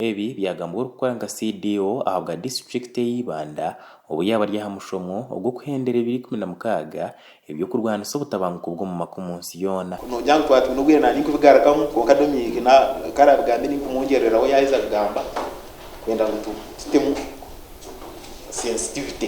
Ebi byagambwa orikukora nka CDO ahabwa disiturikiti eya Ibanda obu yaaba ari aha mushomo ogw'okuhendera ebiro ikumi na mukaaga eby'okurwanisa obutabanguko bw'omu maka omu nsi yoona. Ku noogira ngu twatwine obwire nanye kubigarukamu kwonka Dominic na ku arabigambe ni nkumugyereraho yaheza kugamba kwenda ngu tutemu sensitivity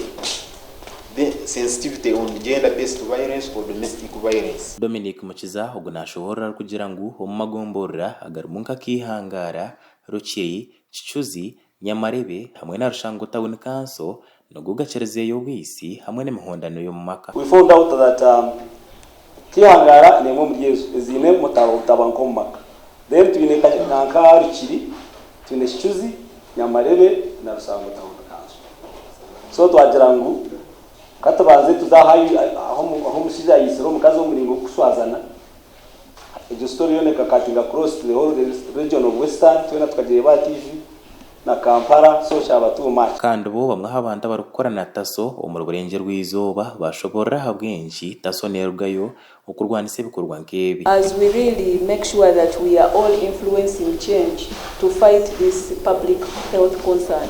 sensitivity on gender based violence or domestic violence. Dominic Mukiza ogu nashoboorora arikugira ngu omu magomborora agarimu nka Kaihangaara, Rukiiri, Kicuzi, Nyamarebe hamwe na Rushango Tawuni Kanso nigo gakyarizeeyo obwisi hamwe n'emihondano y'omu maka. We found out that um Kihangara nemwe omuri ezo eziine obutabanguko omu maka then twine nanka Rukiri, twine Kicuzi, Nyamarebe na Rushango Tawuni Kanso so twagira ngu katubanze tuze ahu omushija ayitsire omukazi omu muringo gw'okushwazana Egyo story yoona ekakatinga across the whole region of western twena tukagireba aha TV na Kampala so kyaba too much. Kandi bo bamwe ahabantu abarikukora na taso omuri burengye rw'eizooba bashoborora ahabw'enki taso nerugayo okurwanisa ebikorwa nk'ebi. As we really make sure that we are all influencing change to fight this public health concern.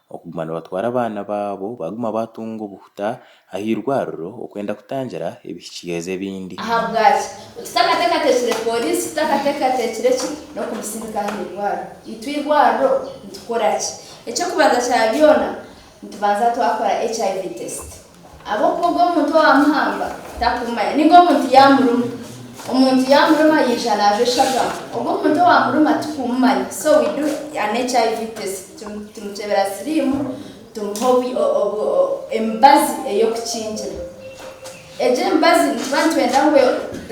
okuguma nibatwara abaana baabo baaguma baatunga obuhuta aha irwariro okwenda kutangira ebihikyeezo ebindi. Ahabwaki? Oti takateekateekire pooriisi, takateekateekire ki n'okumusindika aha irwariro. Itwe irwariro nitukora ki? Eky'okubanza kya byona, nitubanza twakora HIV test. Ahabw'okuba ogwo muntu owaamuhamba takumumanya, nainga omuntu yaamuruma. Omuntu yaamuruma yaija naajwa eshagama. Ogwo muntu owaamuruma tikumumanya. So we do an HIV test. Tumukyebera siriimu, tumuha emibazi ey'okukingira. Egyo emibazi nituba nitwenda ngu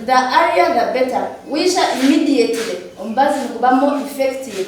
the earlier the better. Waija immediately, omubazi niguba more effective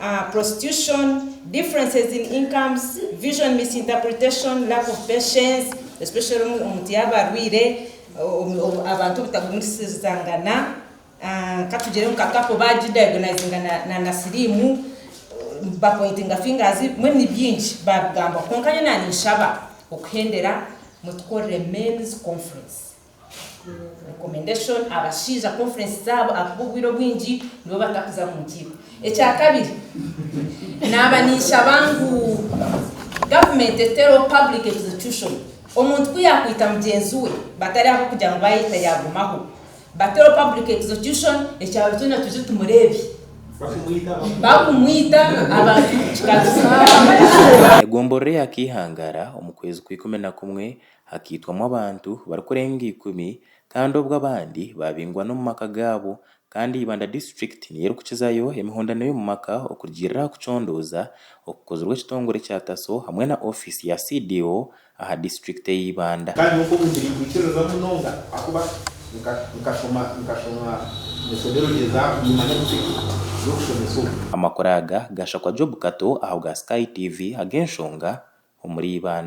a, prostitution, differences in incomes, vision misinterpretation, lack of patience, especially omu omuti y'abarwaire, omu obu abantu obutagumisirizangana, a, katugire ngu nka kapo bagidiagonizinga na na na siriimu, ba pointinga fingers, mbwenu ni bingi babigambaho. Kwonka nyowe naanye nshaba okuhendera mutukorere men's conference. Recommendation, Abashaija conference zaabo ahabw'okuba obwire obwingi nibo batakuza mu nkiiko. Ekya kabiri, naaba ninshaba ngu government etereho public execution. Omuntu ku yaakwita mugyenzi we batari ahabw'okugira ngu baayeta yaagumaho, bateho public execution ekyaro kyona twije tumureebe. Bakumwita abantu kikagumizaho. Egomborora eya Kaihangara omu kwezi kwa ikumi na kumwe hakaitwamu abantu barikurenga ikumi kandi obwo abandi baabingwa n'omu maka gaabo kandi Ibanda District niyo erikukizayo emihondano y'omu maka okurugiirira aha kucondooza okukozirwe ekitongore kya TASO hamwe na ofiisi ya CDO aha District ey'e Ibanda. Kandi nk'oku nikirikwikirira munonga ahakuba nkashoma nkashoma methodology za Imanda District y'okushomesa omu. Amakuru aga gaashakwa Job Kato aha bwa Sky TV ag'enshonga omuri Ibanda.